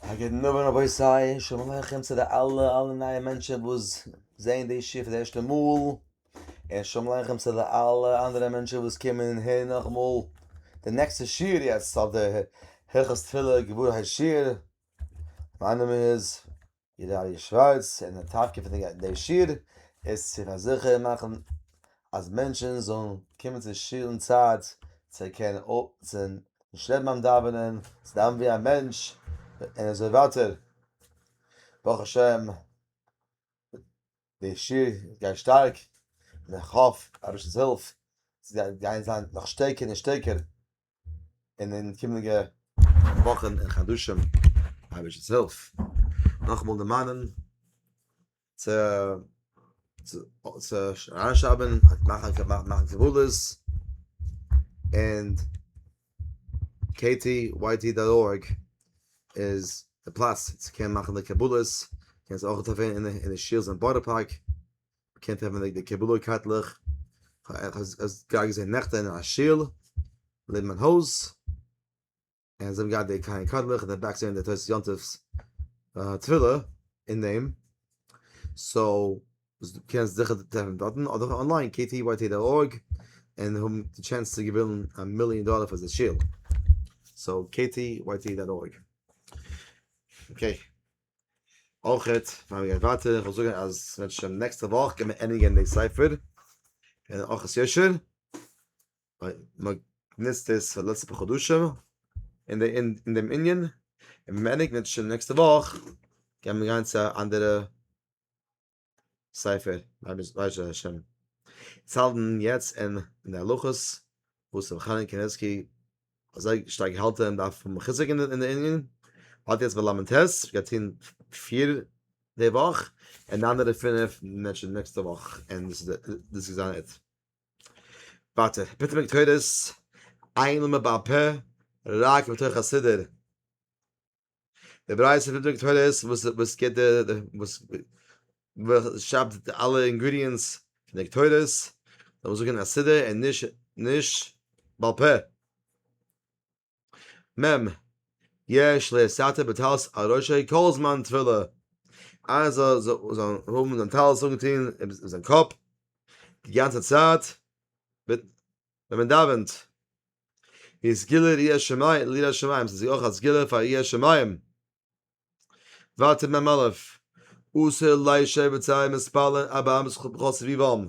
א גוטן אווענט רבותי שלום עליכם צו די אלע אלע נייע מענטשען וואס זעהן די שיעור פאר די ערשטע מאל, און שלום עליכם צו די אלע אנדערע מענטשען וואס קומען און הערן נאכאמאל די נעקסטע שיעור יעצט אויף די הלכות תפילה גמרא השיעור, מיין נאמען איז. די ראיה שווארץ און די טאטקע פון די שיר איז צו פארזיכערן מאכן אז מענטשן זאלן קומען צו שול אין צייט צו קענען צו נישט לעבן ביים דאווענען צו דאווענען ווי א מענטש און אזוי ווייטער ברוך השם די שיר גייט שטארק און איך האף אביש'ס הילף ס'גייט גיין זיין נאך שטערקער און שטערקער. און אין קומענדיגע וואכן און חדשים האב איך עס הילף נאכמאל דערמאנען צו צו אריינשרייבן מאכן מאכן קבלות און ktyt.org איז די פלאץ צו קענען מאכן די קבלות קענסט אויך טרעפן אין די שיעלס אין בארא פארק קענט האבן די קבלה קארטלעך, כ'האב גראד געזען נעכטען אין א שול לעבן מיין הויז, און זיי האבן געהאט די קארן קארטלעך און די בעק זענען די תוס' יום טוב תפילה אין דעם, סאו קענסט זיכער טרעפן דארטן אדער אנליין ktyt דאט org און האבן די טשענס צו געווינען א מיליאן דאלער פאר די שול, סאו ktyt דאט org. אויך פאר מיר ווייטער איך וויל זאגן אז ווען שוין נעקסטע וואך קען מען ענדיגן די ספר און אויך עס יושר ווייל מ'ניצט עס פאר די לעצטע פאר חדשים אין די אין דעם ענין און ווען מ'ענדיגט שוין נעקסטע וואך קען מען גיין צו א אנדערע ספר ממש ממש השם צאלדן יעצט אין אין די הלכות וואס רבי חנן קניבסקי אזוי שטארק האלט אין דארף פון חיזוק אין די ענין האט יעצט בלמנטעס געטון פיר די וואך און די אנדערע פינף נעקסטע נעקסטע וואך און דאס איז דאס איז זיין איט ווארט ביטע מיט קודס איינמאל מען ביי א פ רק מתוך הסדר דער ברייתא פון דברי תורה איז וואס וואס געט דער וואס וואס שרייבט די אלע אינגרידיענטס פון די תורות, זאל מען זאגן א סידור און נישט נישט בעל פה. מ' יש לסתר בטלית על ראשו כל זמן תפילה, איינער זאל זאל זאל האבן זיין טלית אנגעטון אויף זיין קאפ די גאנצע צייט ווען מען דאווענט. ווי סגולה ליראת שמים, ליראת שמים, ס'איז אויך א סגולה פאר יראת שמים. ווייטער מ א, אסור לישב בצהרי מספלין ארבע אמות בכל סביבם,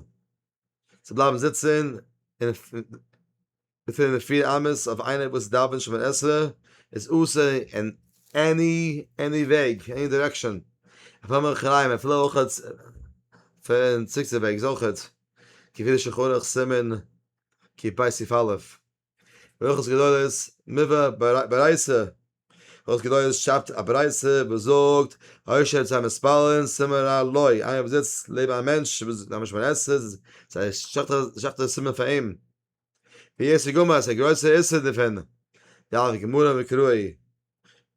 צו בלייבן זיצן פֿינף און פֿיר אמות אויף איינער וואס דאווענט שמונה עשרה איז אסור אין עני עני וועג, עני דירעקשאן, אפילו מאחוריים, אפילו אויך פון צדיק'ס וועג איז אויכעט, כפי שחונך סימן כי פאי סי' א', ברכות גדולות מובא ברייסע, ברכות גדולות שאפט א ברייסע וואס זאגט, הישר צו א מספלין סימן רע לו, איינער וואס זיצט לעבן א מענטש וואס איז א משמר עסת, איז א שכט'ע סימן פאר אים, ווי עס איז גמור אז ס'איז א גרויסע איסור דערפון, דף גמרא מקראי,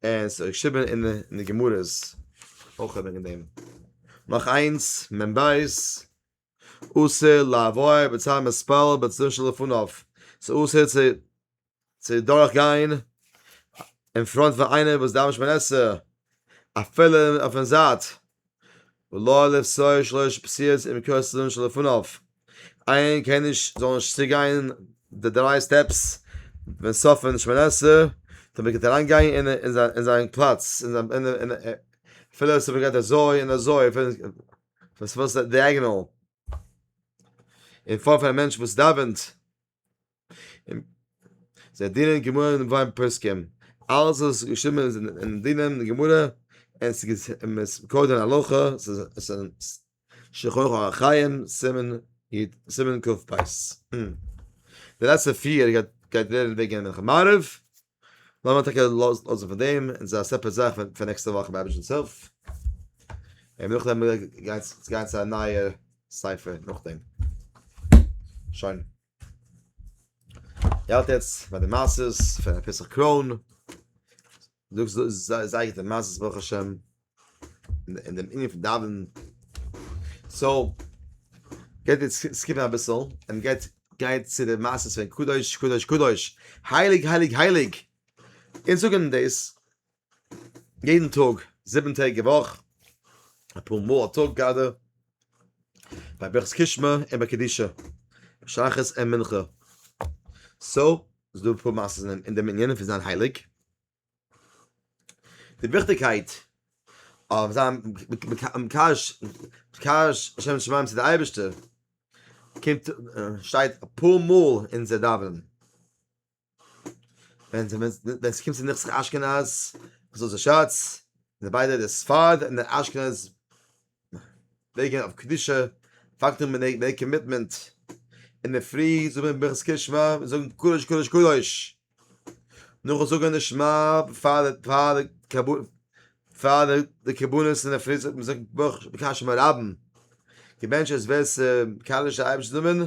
און ס'איז געשריבן אין די גמרות אויך וועגן דעם. נאך איינס, מ ב, אסור לעבור בצד מתפלל בצדו שלפניו, ס'איז אסור צו צו דורך גיין אין פראנט פון איינער וואס דאווענט שמונה עשרה אפילו אויפן זייט, ולא לפסוע שלוש פסיעות עם כל צדו שלפניו, איין קען נישט זאל נישט צוגיין די דריי סטעפס ווען ס'אפן שמונה עשרה דאן וועט ער אריין גיין אין זיין פלאץ, אפילו ס'איז געווען אזוי און אזוי. פון ס'וואס די אייגענעל אין פאר פון א מענטש וואס דאווענט זיי דינען גמרא אין וויין פוסקים אלעס איז געשריבן אין דינען גמרא אין ס'געז אין מ'איז קודם אין הלכה ס'איז אין שולחן ערוך אורח חיים סימן יט סימן קפ ד לעצטע פיר גייט גייט ווערן וועגן מנחה מעריב. לאמיר טאקע לאזן פון דעם, און ס'איז א סעפערעט זאך פאר נעקסטע וואך ביי היבשנ'ס הילף, און נאכדעם וועל איך גיין גיין צו א נייער ספר נאכדעם. שוין. איך האלט יעצט ביי די מעשה'ס פון א פסח קרוין. זאגסט זייער גוטע מעשה'ס ברוך השם. אין דעם ענין פון דאווענען, סאו גייט אונז סקיפן אביסל און גייט גיין צו די מעשה פון קדוש קדוש קדוש הייליג הייליג הייליג, אונז זאגן דאס יעדן טאג זיבן טעג א וואך, אפאר מאל א טאג גראדע, ביי ברכת קושמע און ביי קדישא, שחרית און מנחה, סאו ס'איז דא אפאר מעשיות אין דעם ענין פון זיין הייליג. די וויכטיגקייט אויף זיין מקדש מקדש שם שמים צו די אייבערשטער קומט שטייט אפאר מאל אין אונזער דאווענען ווען ווען ווען ס'קומט צו נכסי אשכנז מזוזה שאץ און די ביידע די ספרד און די אשכנז וועגן אויף קדושה פאקט און מנהג מער קאמיטמענט, אינדערפרי זאגט מען ברכת קה שמע און זאגן קדוש קדוש קדוש, נאכן זאגן די שמע פאר די קרבנות פאר די קרבנות אינדערפרי זאגט מען ברכת קה שמע רבן, געבענטשעס ווער ס'קאלעשט די אייבערשטער נאמען.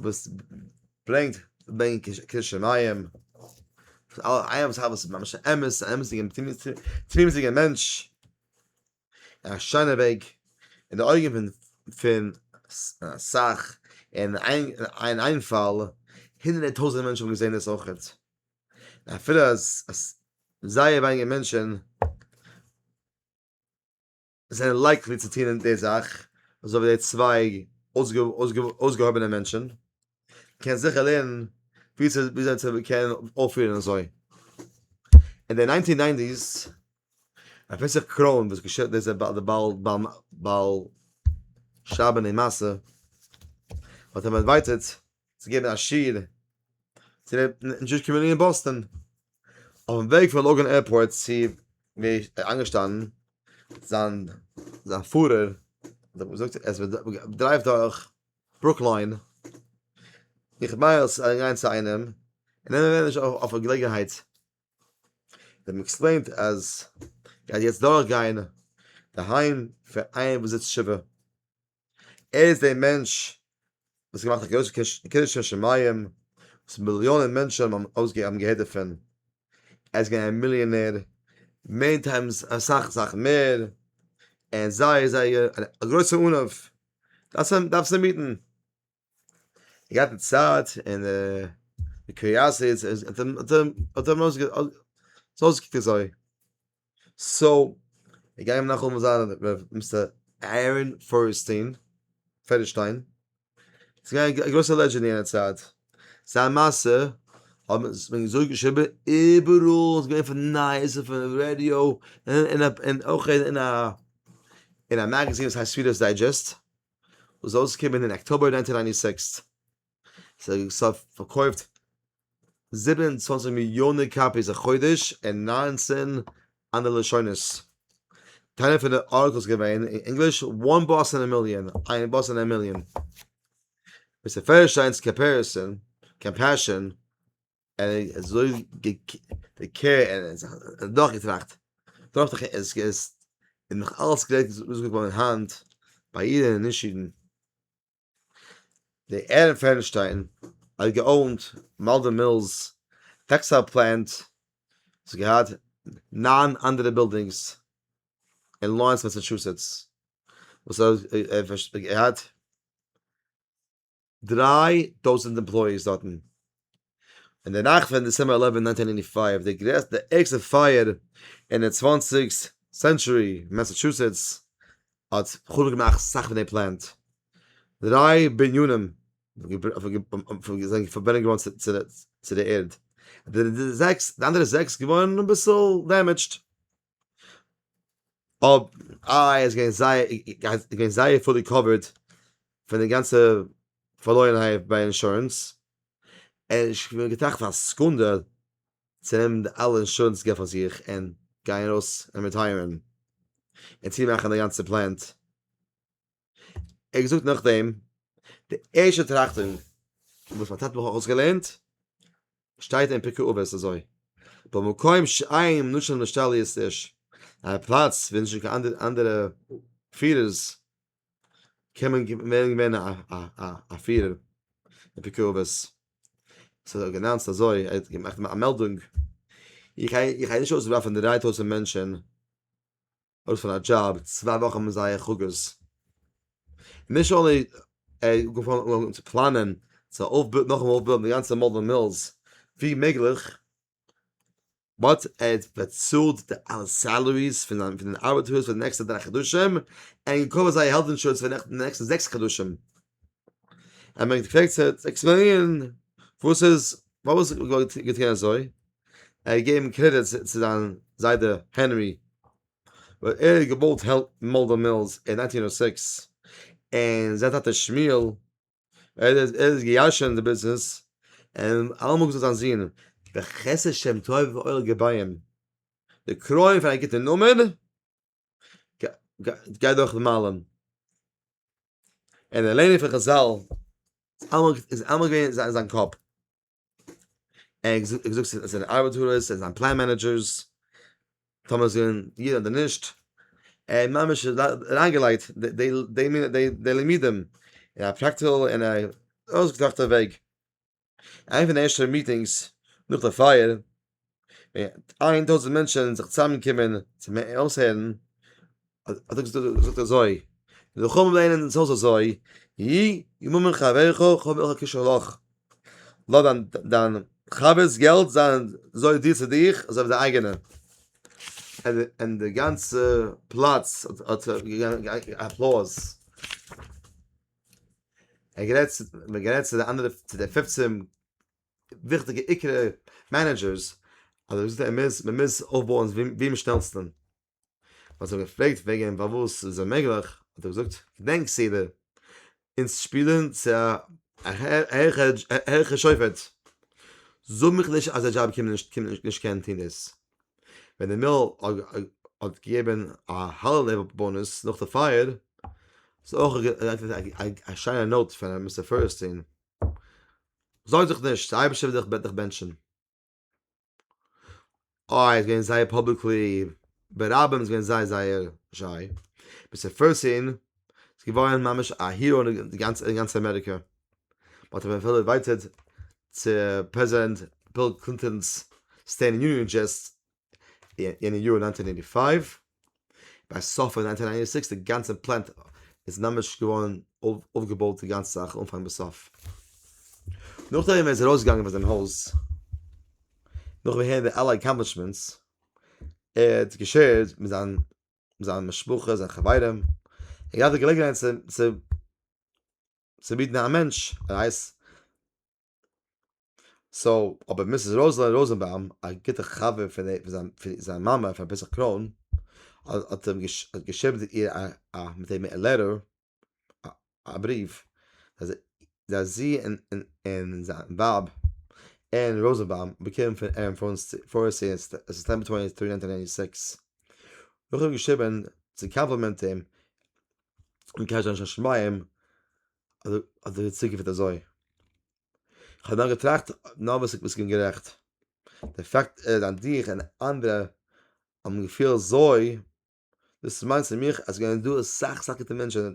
וואס ברענגט בענק קדשי מים איין זאך וואס איז ממש א אמת א אמת'דיגע תמימות'דיגע מענטש א שיינע וועג אין די אויגן פון פון אסאך אין אין איין פאל הונדערטער טויזענטער מענטשן האבן געזען עס אויכעט אפילו אז זייער ווייניגער מענטשן. זענען לייקלי צו טון די זאך אזוי ווי די צוויי אויסגעהויבענע מענטשן, קען זיכער לערנען וויאזוי צו קענען אויפפירן אזוי. אין די ניינטין ניינטיס רבי פסח קרוין וואס געשעט דאס איז די בעל שרייבען די מעשה האט אים ערווארטעט צו געבן א שיעור צו די דזשואיש קאמיוניטי אין באסטאן, אויפן וועג פון לאגאן עירפארט צו ווי ער איז איינגעשטאנען, זיין זיין פארער האט אים געזאגט ער איז דרייוו דורך ברוקלין, איך מיין אז ס'וועט גיין צו איינעם, און נעמען ווער נישט אויף א געלעגנהייט, איך האב אים עקספלעינט אז ער גייט יעצט דורך גיין די היים פון איינעם וואס זיצט שבעה. ער איז דער מענטש וואס האט געמאכט א גרויסע קידוש שם שמים, וואס מיליאנען מענטשען האבן געהערט דערפון, ער איז געווען א מיליאנער, מעני טיימס אסאך אסאך מער, ער איז זייער זייער א גרויסע ענב, דארפסט אים היטן. געהאט די צייט און די קריאסיטי צו עס האט אים אויסגעקוקט אזוי סאו איך גיי אים נאך אמאל זיין ר' מיסטער אהרן פערעסטיין פערעשטיין ס'איז געווען א גרויסע לעדזשענד אין יענע צייט זיין מעשה האט מען אזוי געשריבען איבעראל ס'איז געווען פון נייעס און פון רעדיא און אויך אין א אין א מעגעזין וואס הייסט רידערס דיידזשעסט וואס איז אויסגעקומען אין אקטאבער נײַנצן הונדערט נײַן און זיבעציק, ס'האט פארקויפט זיבן און צוואַנציק מיליאנער קאפיס א חודש אין נײַנצן אנדערע לשונות. טייל פון די ארטיקלס געווען אין ענגליש, One Bus in a Million, איין באס אין א מיליאן, מיסטער פערשטיין'ס קאמפעשאן, ער איז אזוי געקערט ער האט נאך געטראכט טראכט איך עס איז נאך אלס גרייט צו זאגן פאר מיין האנט ביי אידן און נישט אידן דער ערעב פערנשטיין האט געאונט מאלדען מילס טעקסטייל פלענט וואס האט געהאט נײַן אנדערע בילדינגס אין לארענס מאסעטשוסעטס וואס ער האט געהאט דריי טויזענט אימפלויעיס דארטן, אין די נאכט פון דעצעמבער עלעווען נײַנצן הונדערט נײַנטי פֿינף, די גרעסטע די ערגסטע פייער אין די צוואנציג סענטשורי, מעסעטשוסעטס האט חרוב געמאכט אסאך פון די פלענט, דריי בנינים זענען פארברענט געווארן צו די ערד, די אנדערע זעקס געווארן אביסל דעמעדזשד. אב איי איז גיין זיי איז גיין זייער פולי קאווערד פון די גאנצע פארלוירענהייט ביי אינשורענס און איך בין געטראכט פאר א סעקונדע צו נעמען די אלע אינשורענס געלט פאר זיך און גיין ארויס און רעטייערן און צומאכן די גאנצע פלענט. ער האט געזאגט נאכדעם די ערשטע טראכטונג וואס מיין טאטע האט אויסגעלערנט שטייט אין פרקי אבות אזוי במקום שאין נשאר נשתל יעשט עש א פלאץ ווי נישט קיין אנדערע אנדערע פירערס קען מען ווערן געווען א א א א פירער אין פרקי אבות ס'האט ער גענאנצט אזוי ער האט געמאכט א מעלדונג איך גיי איך גיי נישט אויסווארפן דרײַ טויזנט מענטשן אויס פון א דזשאב צוויי וואכן מיט זייער חגאות, נישט אנלי ער האט געפאנגען אן צו פלאנען צו אויפבויען נאכן אויפבויען די גאנצע מאדעל מילס ווי מעגליך, באט ער האט באצאלט די אלע סעלעריס פון זיינע ארבעטערס פאר די נעקסטע דריי חדשים, און געקאווערט זייער העלט אינשורענס פאר די נעקסטע זעקס חדשים, ער מיינט געפרעגט צו עקספלעינירן וואס איז פארוואס איז גאט געטון אזוי ער האט געגעבן קרעדיט צו זיין זיידע הענרי ווייל ער האט געבויט מאלדער מילס אין נײַנצן הונדערט זעקס און זיין טאטע שמואל ער איז ער איז געיארשען די ביזנעס און אלעמאל געזאגט זיין זון בחסד שם טוב ואור געביים די קרוין פון א גוטע נאמען. גיי דורך די מיילן אין די לערנען פון חזל איז אלעמאל געווען אין זיין קאפ ער זאגט עס איז זיינע ארבייטארס עס איז זיין פלען מענעדזשערס טאמער זענען אידן אדער נישט ער האט ממש אריינגעלייגט די למידים אין א פראקטיקל אין א אויסגעטראכטע וועג איין פון די ערשטע מיטינגס נאך די פייער, איין טויזנט מענטשן זיך צוזאם געקומען צו אויסהערן, האט ער געזאגט אזוי, ווילקאם לענ ד אונז הויז אזוי, י י ממון חבריך כ'האב אויך א קשר לך, לאז דיין חבר'ס געלט זיין אזוי דיר צו דיך אזוי ווי דיין אייגענע, און די גאנצע פלאץ האט געגעבן אפלאוז. ער גערעדט צו, מ'האט גערעדט צו די אנדערע, צו די פופצען וויכטיגע עיקר מענעדזשערס, אז ער האט געזאגט ער מוז, מ'מוז אויפבויען ווי, ווי אום שנעלסטען. מ'האט זיך געפרעגט וועגן אים פארוואס איז עס אוממעגליך, האט ער געזאגט, געדענק סדר, אונז שפילען צו א העכער שופט, זאג מיך נישט אז די דזשאב קומט נישט, קומט נישט, נישט קענען טוהן דאס. ווען די מעיל האט געגעבן א האליוועל באנוס נאך די פייער, איז אויך געלייגט א שיינע נאוט פאר מיסטער פערעסטין, זארג זיך נישט, די אייבערשטער וועט דיך בענטשן. אוי איז געווען זייער פאבליקלי, ברבים איז געווען זייער זייער שיי, מיסטער פערעסטין. איז געווארען ממש א היראו אין גאנץ אמעריקע, מ'האט אים אפילו אינווייטעד צו פרעזידענט ביל קלינטאן'ס סטעיט יוניאן אדרעס אין די יאר נײַנצן הונדערט אַכט און פֿינף, ביי סוף פון נײַנצן הונדערט נײַן און זיבעציק די גאנצע פלענט איז ממש געווארען אויפגעבויט די גאנצע זאך אנפאנג ביז סוף. נאכדעם ווען ער איז ארויסגעגאנגען פון זיין הויז, נאכן הערן די אלע אקאמפלישמענטס, ער האט געשערט מיט זיין מיט זיין משפחה, זיין חברים, ער געהאט די געלעגנהייט צו, צו, צו ביטן א מענטש א רייז. סאו, אבער מיסיס ראזעלין ראזענבאום, א גוטע חבר פון די, פון זיין, פון זיין מאמע פאר ביז א קרוין, האט, האט אים געש, האט געשריבן צו איר א, א, מיט אים א לעטער, א בריוו אז זי און זיין ווייב ערין ראזענבאום האבן באקומען פון ערין פארעסט אין סעפטעמבער טווענטי טרי נײַנצן נײַנטי סיקס נאכדעם האב איך געשריבען צו קאמפלימענט אים און געוואונטשן א שנת שמים אז אז די צוקונפט וועט אזוי כ'האב דאן געטראכט נאר וואס איך בין גערעכט די פאקט איז אז דיך און אנדערע האבן געפילט זוי דאס מיינט צו מיך אז גייען דא אסאך אסאך גוטע מענטשן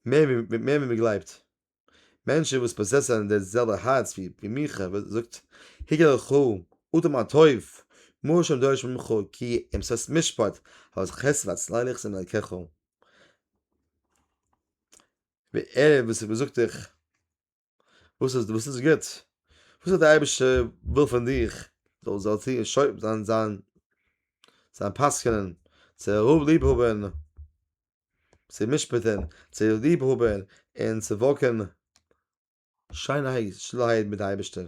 מער ווי מער ווי מ'גלייבט מענטשן וואס פאזעסען די זעלבע הארץ ווי ווי מיך וואס זאגט היגער ח ו אטעם א טוב מה השם דורש ממך כי אם שש משפט אז חסד והצלילך זענען דרכך ווי ער וואס זאגט דיך וואס איז וואס איז גוט? וואס האט דער אייבערשטער וויל פון דיך? זאל זאל צו שויב זיין זיין זיין פסק'ענען, צו אהוב ליב האבן, צו משפט'ן, צו ליב האבן און צו וואקן שיינערהייט, שטילערהייט מיט די אייבערשטער.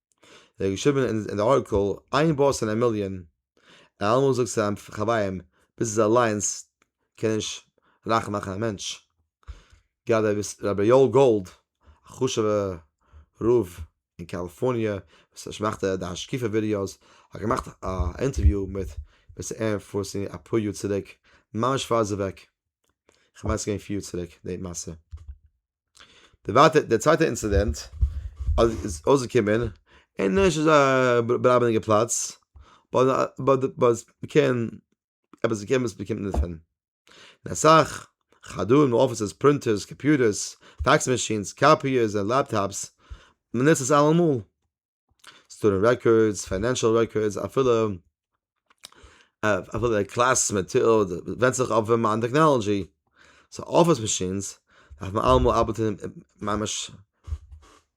ער האט געשריבן אין די ארטיקל, איין באס אין א מיליאן, ער האט אלעמאל געזאגט צו זיין חברים, ביז עס אליינס קען נישט רייך מאכן א מענטש. גראדע איז רבי יואל גאלד, א חשובע רב אין קאליפארניע, וואס מאכט די השקפה ווידיאוס, האט געמאכט א אינטערוויו מיט מיסטער ערען פארסי אפאר יאר צוריק, ממש פאר ער איז אוועק, כ'מיין ס'איז געווען פיר יאר צוריק די מעשה. די ווייטע די צווייטע אינצידענט אז איז אויסגעקומען אין נישט אזא באראבעדיגע פלאץ באט באט באט מ'קען עפעס מ'קען וואס מ'קומט דערפון און אסאך חדרים און אפיסעס פרינטערס קאמפיוטערס פעקס מאשינס קאפיערס און לעפטאפס מ'נוצט עס אלעמאל. סטודענט רעקארדס, פיינענשעל רעקארדס, אפילו אפילו די קלאס מעטאד, ווענדט זיך אויף ווען מיין טעכנאלאגיע. סאו אפיס מאשינס דארף מען אלעמאל ארבעטן ממש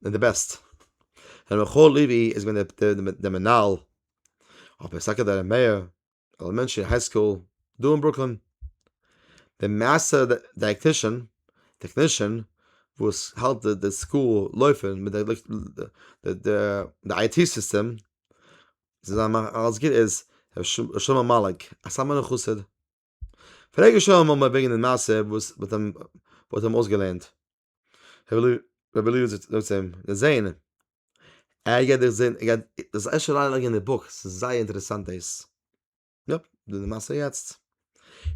מיט די בעסט. ר' מיכאל לעווי איז געווען דער מנהל, אבער סאקעדערע מעיאר עלעמענטרי היי סקול דא אין ברוקלין, די מעסטער דייעקטישאן, טעקנישאן, וואס האלט די סקול לויפן מיט די IT סיסטעם, זיי זענען אלעס גוט, איז ר' שלמה מאליק, א סאטמארער חסיד, פרעג ר' שלמה וועגן די מעשה וואס מ'האט אים אויסגעלערנט. רבי אליהו זאגט צו אים, דער זעהן, ער גייט דיך זעהן, ער גייט, דו זאלסט ערשט אריין לייגן אין די בוק, ס'איז זייער אינטערעסאנט דאס, יאפ, דאס איז די מעשה יעצט,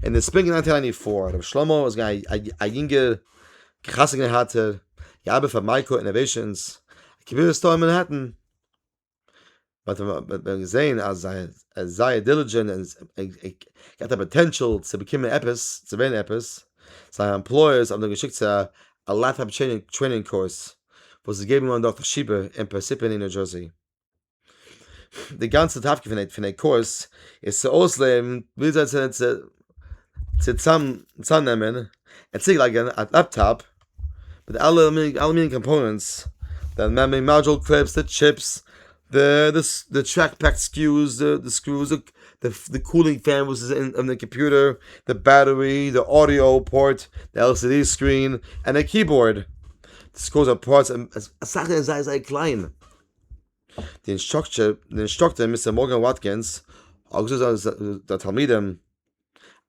און די ספרינג נײַנטין אייט ני פאר, רבי שלמה איז געווען א יונגער חתונה געהאטער, געארבעט פאר מייקא אינאוועישאנס, א קביעות סטאר אין מאנהעטן, באט ווען געזען אז זיי זייער דיליגענט און געט א פאטענשאל צו באקומען עפעס צו ווערן עפעס זיי עמפלויערס האבן זיי געשיקט צו א לעפטאפ טרעינינג קורס וואס איז געגעבן געווארן דורך די שיבער אין פערסיפעני ניו דזשערסי די גאנצע תפקיד פון פון די קורס איז צו אויסלערנען ווי אזוי צו צוזאם צוזאמנעמען און צולייגן א לעפטאפ מיט אלע אלע מיני קאמפאונענטס, די מעמערי מאדזשול קליפס, די טשיפס, די טשעק פעק סקיוס, די סקרוס, די קולינג פען וואס איז אין די קאמפיוטער, די בעטערי, די אודיאו פארט, די על סי די סקרין, און די קיבאורד, די סקרוס און פארטס, אסאך איז זייער זייער קליין, די אינסטראקטער מיסטער מארגען וואטקינס האט געזאגט זיינע תלמידים.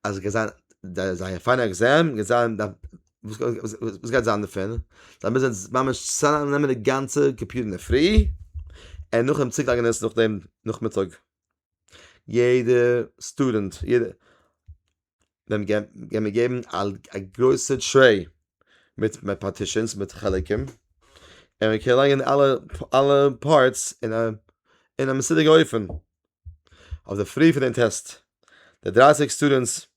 אז געזען דער זייער פיינער עקזעם געזען דארף וואס וואס גייט זיין דערפון זיי מוזן ממש צוזאם נעמען די גאנצע קאמפיוטער אינדערפרי און נאכדעם צולייגן עס נאכדעם נאכמיטאג יעדע סטודענט יעדע דעם גיימער מיר געבן א גרויסע טרעי מיט מיט פארטישענס מיט חלקים און מיר קענען לייגן אלע אלע פארטס אין א אין א מסודר אופן. אויף די פרי פון דעם טעסט. די דרייסיג סטודענטס,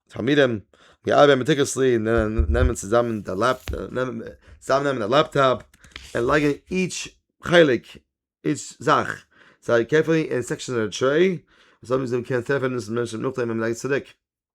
תלמידים, געארבעט מעטיקעלסלי, נעמען צוזאמען די צוזאמען נעמען א לעפטאפ, און לייגן איטש חלק, איטש זאך, זייער קערפולי אין סעקשאן און טרעי, אזוי ווי זיי קענען טרעפן דאס מענטשן נאכדעם ווען מ'לייגט עס צוריק.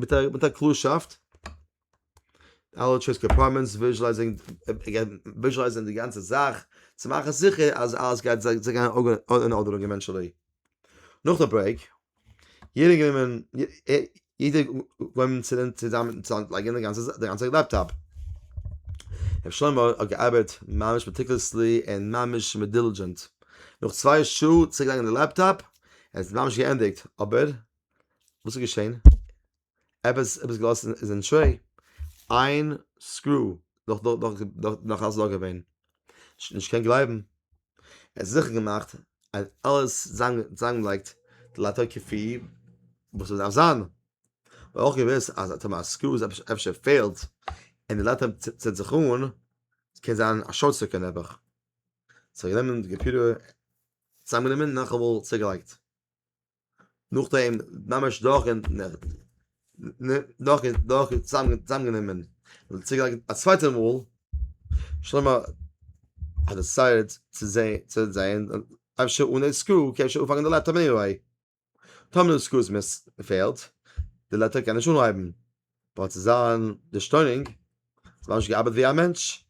מיט א מיט א קלארשאפט אלע טשויס קאמפארטמענטס וויזשעלייזינג וויזשעלייזן די גאנצע זאך צו מאכן זיכער אז אלעס גייט זיי זיי גייען אן ארדערונג עווענטשעלי נאך די ברעיק יעדער גענומען יעדער גענומען צוזאמען צו אנטלייגן די גאנצע זאך די גאנצע לעפטאפ ר' שלמה האט געארבעט ממש מעטיקולעסלי און ממש מיט דילידזשענט נאך צוויי שעה צוריקגעלייגט די לעפטאפ עס איז ממש געענדיגט אבער וואס איז געשען? עפעס עפעס געלאזט איז אין טרעי, איין סקרו נאך נאך נאך נאך אלס דא געווען, נישט קען גלייבן, ער האט זיכער געמאכט אז אלעס צוזאמגעלייגט די לאטער קאפי וואס עס דארף זיין, ער האט אויך געוואוסט אז טאמער א סקרו איז אפשר אפשר פעלט און די לאטער ציט זיך אן, קען זיין א שארט סירקוט נעבעך, סאו ער האט גענומען די קאמפיוטער צוזאמגענומען נאכאמאל צוגעלייגט. נאכדעם ממש דורך און דורך און דורך און צוזאמגענומען און צוגעלייגט א צווייטע מאל, שלמה האט דעסיידעד צו זעהן אפשר אן עי סקרו קען שוין אנפאנגען די לעפטאפ עניוועי, טאמער די סקרו פעלט די לעפטאפ קען נישט אנהייבן, באט צו זיין דערשטוינונג האט עס ממש געארבעט ווי א מענטש,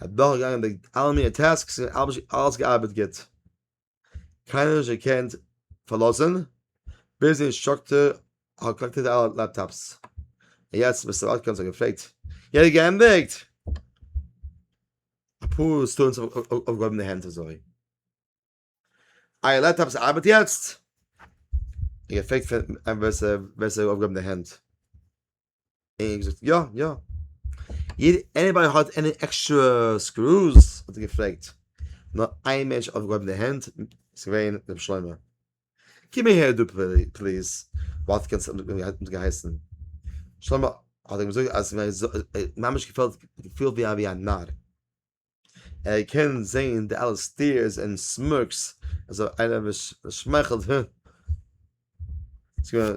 ער איז דורכגעגאנגען די אלע מינע טעסקס און אלעס געארבעט גוט. קיינער נישט געקענט פארלאזען, ביז די אינסטראקטער האט קאלעקטעד אלע לעפטאפס, און יעצט מיסטער אטקינסאן האט געפרעגט יעדער געענדיגט? אפאר סטודענטס האבן אויפגעהויבן די הענט אזוי. אייער לעפטאפס ארבעט יעצט? ער האט געפרעגט פון ווער ס'האט אויפגעהויבן די הענט. אין געזאגט יא יא יעד עניבאדי האט עני עקסטרע סקרוס האט ער געפרעגט נאר איין מענטש האט אויפגעהויבן די הענט איז געווען ר' שלמה קום אהער דא פליז וואלט קענס אונז געהייסן שלמה האט אים געזאגט אז ממש געפעלט געפילט ווי א נאר ער קען זעהן די אלע סטיערס און סמערקס אזוי איינער וואס שמייכלט הע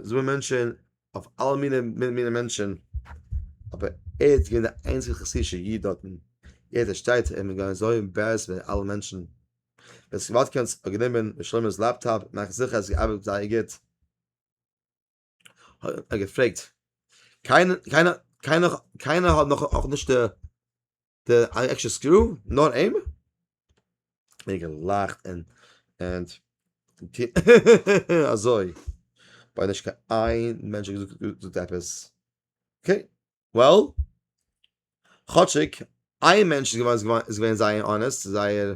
זענען מענטשען אויף אלע מיני מיני מענטשען אבער ער איז געווען די איינציגע חסידישע איד דארטן ער איז א שטייטער און געווען אזוי עמבערעסט מיט אלע מענטשען ווען ס'געוואלט קען עס האט גענומען ר' שלמה'ס לעפטאפ מאכט זיכער אז ס'געארבעט זייער גוט. האט ער געפרעגט קיינער קיינער קיינער קיינער האט נאך אויך נישט דער דער עקשע סקרו נאר אים ער געלאכט און און אזוי ביי נישט קיין איין מענטש געזאגט עפעס אוקיי וועל כאטשיק איין מענטש איז געווען איז געווען זייער אנעסט זייער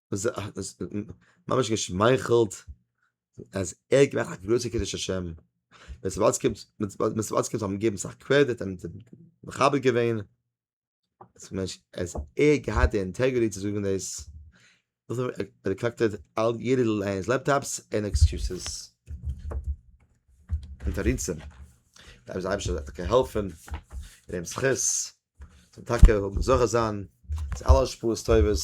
ממש געשמייכלט אז ער געמאכט א גרויסע קידוש השם, ווען ס'וואלט געקומט ווען ס'וואלט געקומט האבן געגעבן סאך קרעדיט און מכבד געווען, אז ער געהאט די אינטעגריטי צו זאגן דאס, רעקאקטעד אלט יעדע ליינס לעפטאפס און עקסקיוזעס און תירוצים, דארף זיי אייבערשטער זאל זיי טאקע העלפן און אים זכות. זאל טאקע האבן זוכה זיין צו אלע השפעות טובות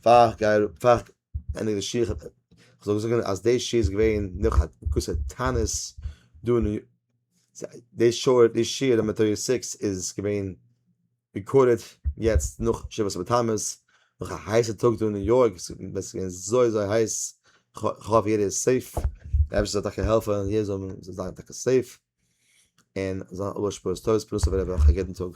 פאר גייער פאר ענדיג די שיעור כ'זאל זאגן אז די שיעור איז געווען נאך א גרויסע תענית דא אין די שעה די שיעור נומער טערטי סיקס איז געווען רעקארדעד יעצט נאך שבעת בתמוז נאך א הייסע טאג דא אין ניו יארק עס איז געווען אזוי אזוי הייס כ'האף יעדער איז סעיף די אייבערשטער זאל טאקע העלפן יעדער זאל זיין טאקע סעיף. און זאל האבן א גוטע פרנסה וועלכע יעדן טאג.